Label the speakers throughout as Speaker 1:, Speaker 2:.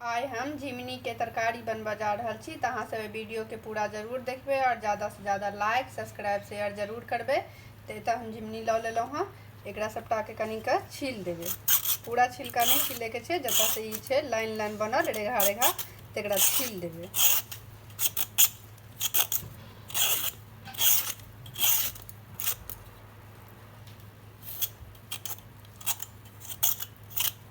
Speaker 1: आइ हम झिमनी के तरकारी बनबऽ जा रहल छी तऽ अहाँ सब वीडियो के पूरा जरूर देखबे और ज्यादा से ज्यादा लाइक सब्सक्राइब शेयर जरूर करबे तऽ एतऽ हम झिमनी लऽ लेलहुँ हँ एकरा सबटा के कनी के छील देबे पूरा छिलका नहीं छीले के छै जतऽ से ई छै लाइन लाइन बनल रेघा रेघा तेकरा छील देबे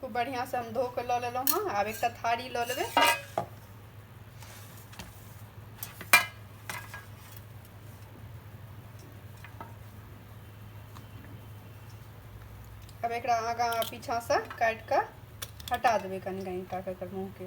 Speaker 1: खूब बढ़िआँसँ हम धो कऽ लऽ लेलहुँ हँ आब एकटा थारी लऽ लेबै अब एक आगा पीछा से काट के हटा देवे कनी कनी टा के मुँह के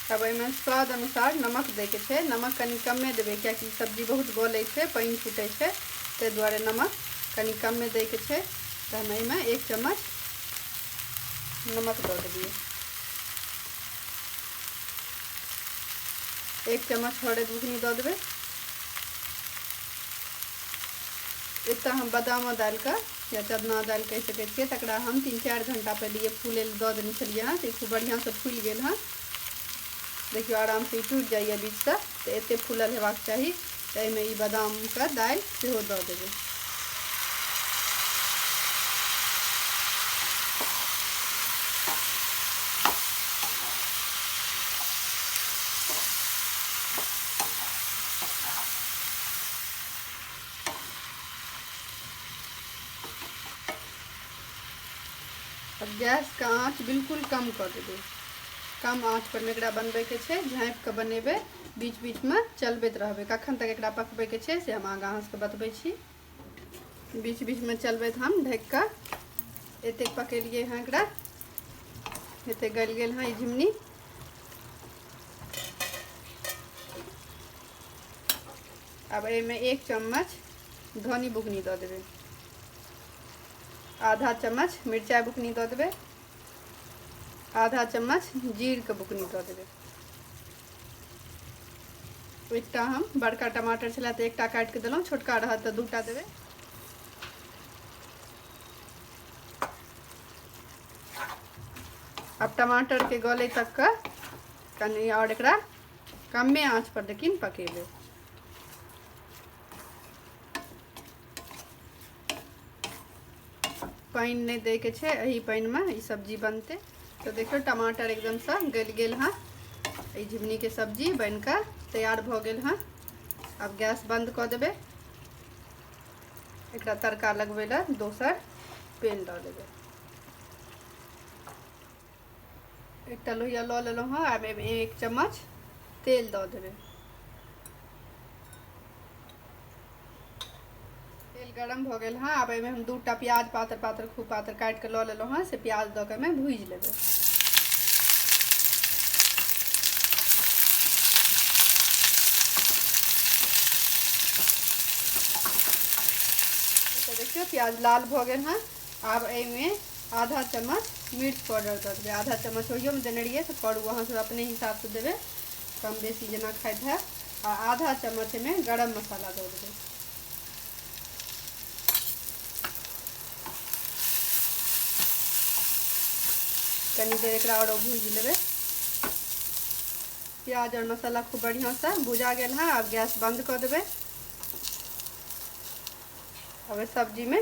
Speaker 1: अब एहिमे स्वाद अनुसार नमक दैके छै नमक कनि कमे देबै किएकि सब्जी बहुत गलै छै पानि छूटै छै ताहि दुआरे नमक कनि कमे दैके छै तऽ हम एहिमे एक चम्मच नमक दऽ देलिए एक चम्मच हरद बुकनी दऽ देबै एतऽ हम बादामो डालिकऽ या चदना डालि कहि सकै छिए तकरा हम तीन चारि घण्टा पहिले फूलै लए दऽ देने छलिए हँ तऽ खूब बढ़िआँसँ फूलि गेल हँ देखियो आराम से टूट जाइए बीच से तो एत फूल हेबाक चाहिए तो एहिमे ई बादामके दालि सेहो दऽ देबै अब गैस के आँच बिल्कुल कम कर देबे कम आँच पर में एकरा बनबे के छे झाँप के बनेबे बीच बीच में चलबैत रहबे कखन तक एकरा पकबे के छे से हम आगा अहाँ सबके बतबे छी बीच बीच में चलबैत हम ढक के एते पकेलिए हाँ एकरा एते गल गेल हाँ झिमनी अब एमे एक चम्मच धनी बुकनी दऽ देबै आधा चम्मच मिरचाइ बुकनी दऽ देबै आधा चम्मच जीरके बुकनी दऽ देबै एकटा हम बड़का टमाटर छलै तऽ एकटा काटि कऽ देलहुँ छोटका रहत तऽ दूटा देबै आब टमाटरके गले तक कऽ कनि आओर एकरा कमे आँचपर लेकिन पकेबै पानि नहि दैके छै एहि पानिमे ई सब्जी बनतै तऽ देखियौ टमाटर एकदमसँ गलि गेल हँ ई झिमनीके सब्जी बनि कऽ तैयार भऽ गेल हँ आब गैस बन्द कऽ देबै एकरा तड़का लगबै लए दोसर पेन दऽ देबै एकटा लोहिया लऽ लेलहुँ हँ आब एहिमे एक चम्मच तेल दऽ देबै तेल गरम भऽ गेल हँ आब एहिमे हम दू टा प्याज पातर पातर खूब पातर काटि कऽ लऽ लेलहुँ हँ से प्याज दऽ कऽ एहिमे भूजि लेबै देखियौ प्याज लाल भऽ गेल हँ आब एहिमे आधा चम्मच मिर्च पाउडर दऽ देबै आधा चम्मच ओहियोमे देने रहियै तऽ करू अहाँसभ अपने हिसाबसँ देबै कम बेसी जेना खाइत हैब आ आधा चम्मच एहिमे गरम मसाला दऽ देबै कनी देर एकरा आओर भूजि लेबै प्याज आओर मसाला खूब बढ़िआँसँ भुजा गेल हँ आब गैस बन्द कऽ देबै अब सब्जीमे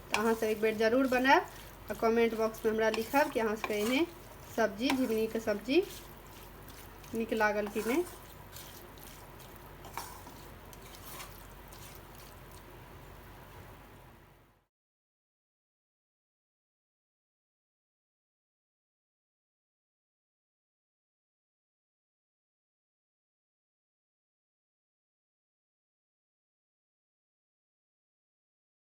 Speaker 1: तऽ अहाँसभ एक बेर जरूर बनायब आ कमेंट बॉक्समे हमरा लिखब कि अहाँसभके एहने सब्जी झिंगनीके सब्जी नीक लागल कि नहि